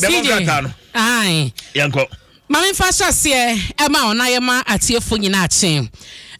bɛbɔ nkrataa no yɛnkɔ maame mfa hyɛ aseɛ ɛma ɔna yɛ ma atiefo nyinaa kye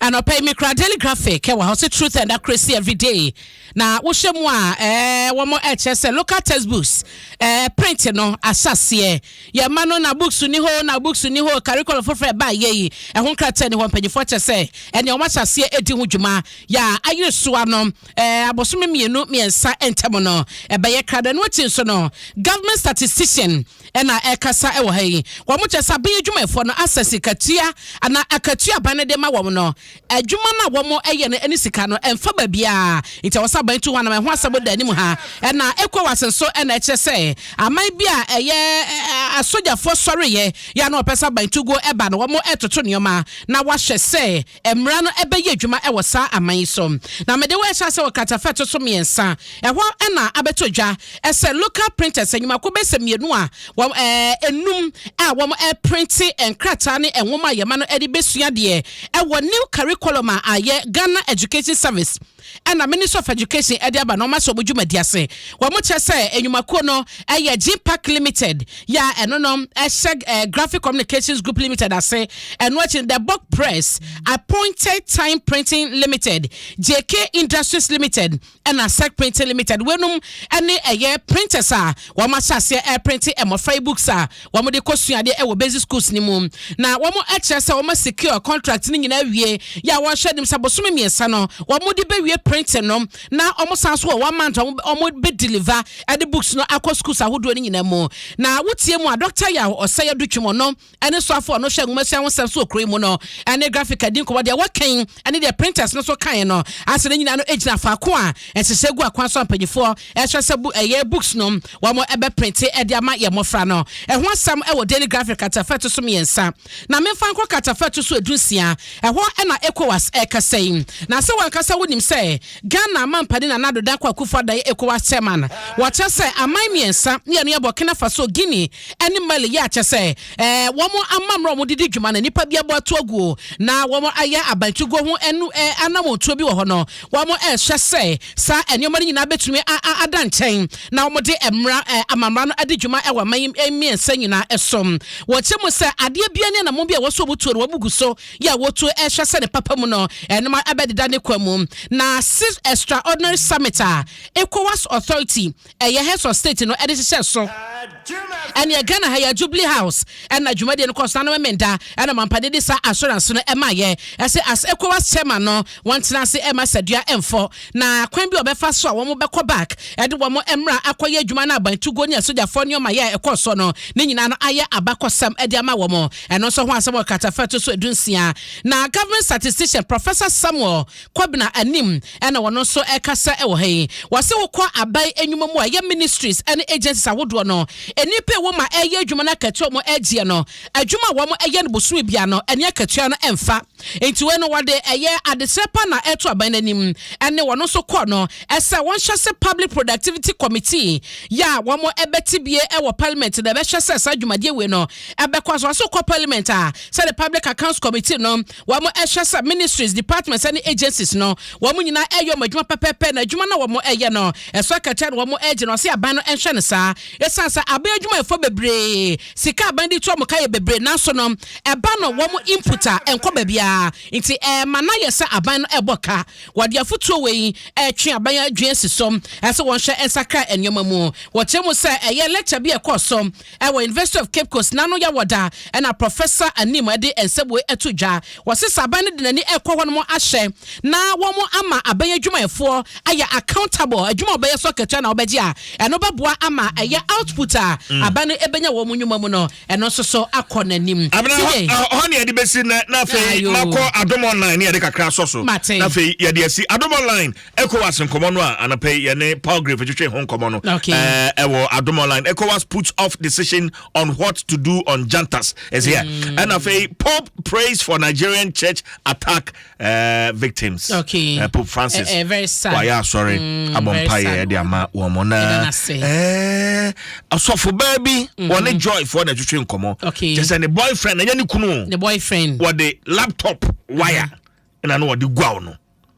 anɔpɛ yi mekura daily graphic ɛwɔ ha ɔsɛ truth and accuracy every day na wohyɛ mu a ɛɛ wɔn ɛkyɛ sɛ local textbooks ɛɛ print no ahyɛ aseɛ yɛn ma no na books ni hɔ na books ni hɔ curriculum foforɔ ɛbaa yɛ yi ɛho nkrataa ni hɔ mpanyinfoɔ kyɛ sɛ ɛnea wɔn ahyɛ aseɛ ɛdi ho dwuma yɛ a ayere soa no. Abosome mmienu mmiɛnsa ntam no, ɛbɛyɛ krado. Ɛno akyi nso no, government statistician na ɛkasa wɔ ha yi. Wɔn kyerɛ sɛ aban adwumayɛfoɔ no asɛ sikatua anaa akatua aban no de ma wɔn no. Adwuma no a wɔyɛ no ne sika no ɛmfa baabiara. Nti ɛwɔ sɛ aban tu ho anam. Ɛho asɛm da anim ha. Ɛna ECOWAS nso na ɛkyerɛ sɛ aman bi a ɛyɛ asogyafoɔ sɔreeɛ yɛ a na wɔpɛ sɛ aban tu guo ba no, wɔtoto nneɛma na wɔahwɛ sɛ Mmara no bɛyɛ adwuma wɔ saa aman yi so. Na mede wo rehyɛ ase wɔ kratafa a ɛto so mmiɛnsa. Ɛhɔ na abɛtɔ dwa sɛ local printers, nnwuma kuo bɛyɛ sɛ mmienu a wɔn, ɛɛ, nnum a wɔreprinte nkrataa ne nwoma a yɛma no de bɛsua adeɛ wɔ new curriculum a ayɛ Ghana Education Service, na Ministry of Education de aba no wɔn asɔ wɔn dwumadi ase. Wɔkyerɛ sɛ nnwumakuo no yɛ Gpac Limited yɛ a ɛno no hyɛ Graphic Communications Group Limited ase. Ɛno akyi no The Book Press, Appointed Time Printing Limited, JK Industries Limited ɛna Sec Printing Limited. Weinom ne ɛyɛ printers a wɔahyɛ aseɛ ɛreprinte mmɔfra yi books a Wɔde kɔ sua adeɛ wɔ basic schools no mu na wɔn akyerɛ sɛ wɔn a secure contract no nyinaa awie yɛ a wɔn hyɛ anim sɛ bosome mmiɛnsa no wɔn de bɛ wie printing no na wɔn san so wɔ one month a wɔn bɛ deliver ɛde books no akɔ schools ahodoɔ no nyinaa mu na wotie mu a Dr. Yaw Ɔsɛeɛ Dutwim ɔno ɛne soafo ɔno hyɛ nwomasua ho sɛm so wɔ kuro yi mu no ɛne graphic adi nkɔmɔ deɛ wɔkɛn ɛne deɛ printers no nso kaeɛ no ase no nyinaa no gyina faako a ɛsesɛ gu akwan so a mpanimfoɔ ɛsrɛ sɛ bu ɛyɛ books no wɔn ɛbɛprinte ɛde ama yɛn mmɔfra no ɛho asɛm ɛwɔ Daily Graphic katafa ɛto so mmiɛnsa na memfa nkɔ katafa ɛto so edunsia ɛhɔ ɛna ECOWAS ɛkasa yi na sɛ wankasa wonim sɛ Ghana mampani Nana Addo Dankwa Akufo Addo yɛ ECOWAS chairman wɔkyɛ sɛ aman mmiɛnsa mmienu yɛ Burkina Faso Guinea ɛne Mali yɛ akyɛ sɛ Ɛɛ, wɔn amammerɛ a wɔde di dwuma no, nnipa bi abɔ ato agu o, na wɔayɛ abankyigoɔ ho ɛnu ɛ anammɔntuo bi wɔ hɔ no, wɔrehwɛ sɛ saa nneɛma no nyinaa bɛtumi a a ada nkyɛn na wɔde mmara ɛ amammara no adi dwuma wɔ aman yi mmiɛnsa nyinaa so. Wɔkyerɛ mu sɛ adeɛ biara ne anammɔn bi a ɛwɔ so a wɔtuo no, wɔabu gu so yɛ a wɔtuo rehwɛ sɛ ne papa mu no, nneɛma bɛdeda ne kwa mu. Na sixth Extraordinary Summit a ECOWAS Authority Ɛyɛ heads of state no de hyehyɛ so. Ɛneɛ Ghana ha yi a Jubilee House na dwumadie no kɔɔ so na no Memenda na Mampane de saa assurance no maayɛ sɛ as Ecowas chairman no wɔn tena ase mma asadua mfɔ na kwan bi a wɔbɛfa so a wɔn bɛkɔ back de wɔn mmra akɔ yɛ adwuma no aban tuguo ne asogyafoɔ nneɛma yɛ a ɛkɔɔ soɔ no ne nyinaa no ayɛ abakɔsɛm de ama wɔn ɛno nso ho asɛm wɔ Carter Fɛto so edu nsia na government statistician Professor Samuel Kobena anim na ɔno nso rekasa wɔ ha yi. Wɔse wokɔ aban nnwuma mu a, ɛyɛ ministries ne agencies ahodoɔ no, nnipa a ɛwɔ mu a ɛreyɛ adwuma no akatua a wɔregyeɛ no, adwuma a wɔyɛ no bosome biara no, ɛne akatua no mfa. Nti wei no wɔde ɛyɛ adesrɛ pa na ɛreto aban no anim. Ɛnne ɔno nso kɔɔ no sɛ wɔnhwɛ sɛ Public Productivity Committee yɛ a wɔbɛte bie wɔ Parliament no ɛbɛhwɛ sɛ saa dwumadie wei no ɛbɛkɔ so. Wɔse wokɔ Parliament a, sɛdeɛ Public Accounts Committee no, wɔn ɛhwɛ sɛ ministries, departments ɛne agencies no wɔn nyinaa ɛyɛ wɔn adwuma pɛpɛɛpɛ na adwuma na wɔn ɛyɛ no ɛso akatua na wɔn ɛgye no ɔse aban no ɛnhwɛ no saa ɛsan sɛ aban adwumayɛfoɔ bebree sika aban de tu wɔn ka yɛ bebree nanso no ɛba no wɔn input a ɛnkɔ baabiara nti ɛma na yɛ sɛ aban no ɛbɔ ka wɔde afotuo wei ɛtwe aban adwene si so ɛsɛ wɔn hwɛ ɛnsakra nneɛma mu wɔkyerɛ mu sɛ ɛyɛ lecture bi ɛkɔɔ so Ɛwɔ University of Cape Coast n'ano yɛ wɔ da ɛna Professor Anim ɛde nsɛbue ɛto dwa. Wɔse sɛ aban no de n'ani ɛkɔ hɔ nom ahyɛ na wɔn ama aban adwumayɛfoɔ ayɛ accountable adwuma ɔbɛyɛ so akatua na ɔbɛgye a ɛno bɛboa ama ɛyɛ output a aban no ɛbɛnya wɔ wɔn nwuma mu no ɛno nso so akɔ n'anim. Abena hɔ hɔ ne yɛde bɛsi nɛ na afei makɔ Adom Online ne yɛde kakra asɔ so na afei yɛde asi Adom Online ECOWAS nkɔmɔ no a anapa yi yɛne Palgrave twetwe ho nkɔmɔ no ɛwɔ Adom Online ECOWAS puts off decision on what to do on Jantas ɛsɛ yɛ ɛna afei Pope prays for Nigerian church attack uh, victims okay. uh, Pope Francis eh, eh, very sad. wayɛ asɔre mm, abɔ mpaeɛ ɛde ama wɔn mo na asɔfo baa bi mm-hmm. wɔne Joy foɔ na ɛtwetwe nkɔmɔ kyɛ sɛ ne boyfriend ɛnyɛ ne kunu wɔde laptop wire ɛna mm-hmm. no wɔde guaw no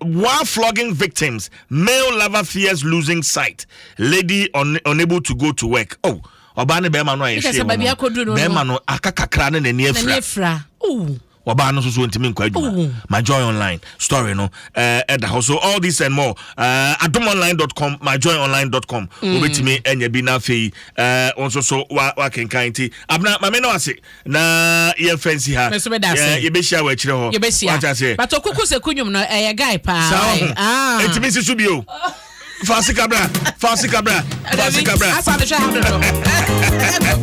While flogging victims, male lover fears losing sight, lady un unable to go to work. Oh, ɔbaa ne bɛrima no a yɛhwɛ wɔn no bɛrima no aka kakra ne n'ani afira wɔbaa no nso so ntumi nkɔ adwuma ma joy online story no ɛda eh, hɔ so all this and more eh, adomonline.com ma joy online.com mm. wobɛtumi anya bi na afei eh, wo nso so wakenkan nti abena mame no ase na yɛmfa nsi ha Me nso meda ase. Yɛ- yɛbɛhyia wɔ akyirɛ hɔ yɛbɛhyia Wate aseɛ but ɔkuku sɛ ku nnwom no ɛyɛ guy paa saa why? ho Ah. ɛtumi nsi so bio fa sika bra fa sika bra fa Dabi, sika bra asa mehwɛ ha dodo